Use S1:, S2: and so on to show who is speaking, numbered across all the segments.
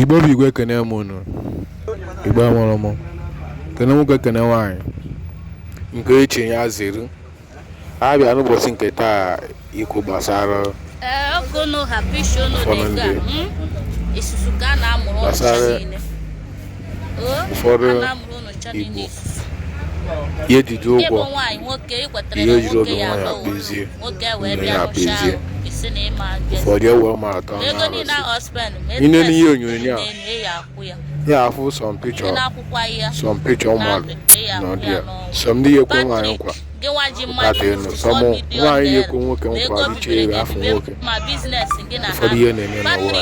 S1: igbo bụ igwe ekene m unu igbo mụrụ m kene nwoke kene nwaanyị nke echi ya zere abịa n'ụbọchị nke taa ikwu
S2: gbasara ụfọdụ ndị gbasara
S1: ụfọdụ igbo ya ejide ụgwọ ihe ejiri oge nwa ya kpezie nne ya kpezie ụfọdụ ewe ma atọ i nene ihe onyonyo a ya afụ some picture some picture mmadụ nọ dị ya some ndị ya ekwe nwaanyị nkwa ụkpata enu some nwaanyị ya ekwe nwoke nkwa dịcha ere afọ nwoke ụfọdụ ihe na-eme n'ụwa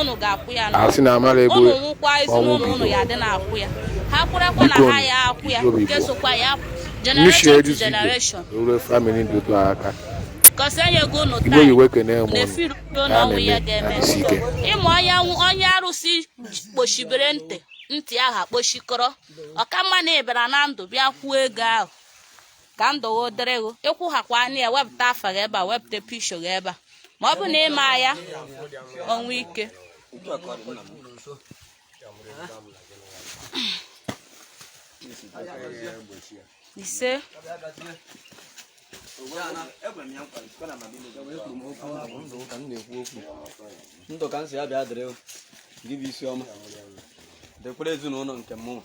S1: ụnụ ga-akwụ ya asị na amara egbu ụnụ nwụkwa ezinụlọ ụnụ ya dị na-akwụ ya ha kwụrakwa na ha ya akwụ ya nke sokwa ya generation to generation ruo famili dị otu aka cause e nyego ụnụ taa iwe kene mụ na-efiri udo na ọnwụ ya
S2: ga-eme ịmụ onye onye arụsị kpochibere ntị ntị ahụ akpochikọrọ ọ ka mma na ị bịara na ndụ bịa kwụọ ego ahụ ka ndụ gị dịrị gị ị kwụghịkwa anyị ya wepụta afa gị ebe a wepụta picture gị ebe a ma ọ bụ na ị ma ya ọnwụ ike
S3: ise ndụ ka m sị ya bịa dịrị gị bụ isi ọma dịkwara ezinụlọ nke mụnwa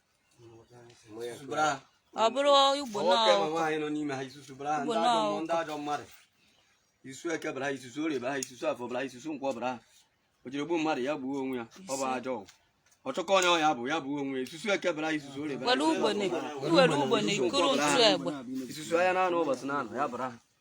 S2: ọ bụrụ igbo
S3: ndị ajọ mmadụ isusu eke bara ha isusu orie bara ha isusu afọ bara ha isusu nkwọ bara ha o jiri gbuo mmadụ ya gbuo onwe ya ọ bụ ajọ ọgwụ ọ chọkọ onye ọ ya egbu ya gbuo onwe isusu eke bara isusu orie bara isusu ahịa n'anọ ụbọchị n'anọ ya bara ha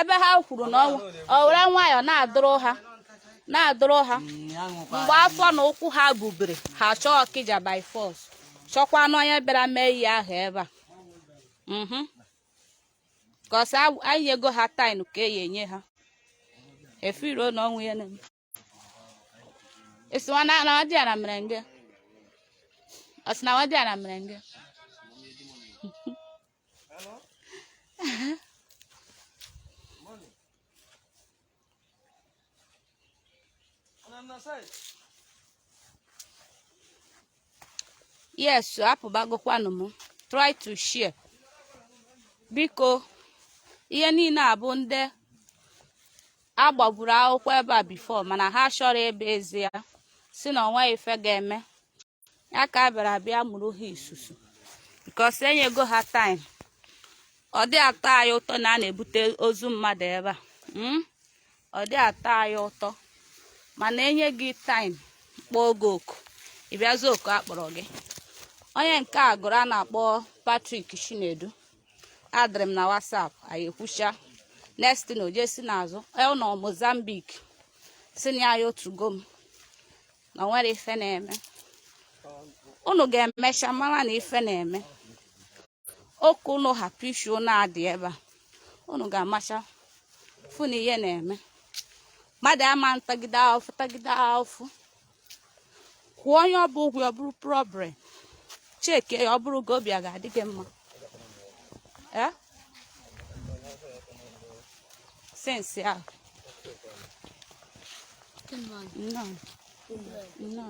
S2: ebe ha kwuru na ọnwụ o were nwayọọ na-adụrụ ha na-adụrụ ha mgbe afọ na ụkwụ ha bubere ha chọọ ọkịja by force chọkwanụ onye bịara mee ihe ahụ ebe a mhm cause anyị nyego ha time ka e ya enye ha efiro na ọnwụ ya na Esi wa na na wadi ara merenge. Esi na wadi ara merenge. yes apụbagokwanụ m try to share biko ihe niile abụ ndị a gbaburu akwụkwọ ebe a before mana ha chọrọ ebe ezi ya sị na o nwe ife ga-eme ya ka a bịara abịa mụrụ ha isusu because e nyego ha time ọ dị atọ anyị ụtọ na a na-ebute ozu mmadụ ebe a hmm? ọ dị atọ anyị ụtọ mana e nye gị time kpọọ gị oku ịbịazi oku a kpọrọ gị onye nke a gụrụ a na-akpọ Patrick Chinedu addịrị m na WhatsApp anyị ekwucha next thing o je si n'azụ e, ọ nọ Mozambique sị na ya otugo m na nwere ife na-eme unu ga-emecha mara na ife na-eme oke unu hapụ isi unu adị ebe a unu ga-emecha fụ na ihe na-eme mmadụ ama tagide ahụfụ tagide ahụfụ kwụọ onye ọ bụ ụgwọ ọ bụrụ problem cheke ya ọ bụrụ gị obi a ga-adị gị mma ee since ahụ nnọọ nnọọ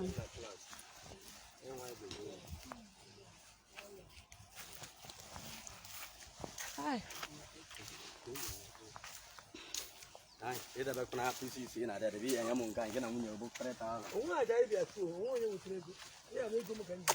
S3: ịdebekwa na apc isi na adịadị bụ ihe nye m nke a nke na nwunye bụ kparịta
S4: ahụ onwe aja
S3: ịbịa
S4: tuo
S3: onwe
S4: onye nwetara
S3: ego ya
S4: bụ ego
S3: m
S4: ka m ji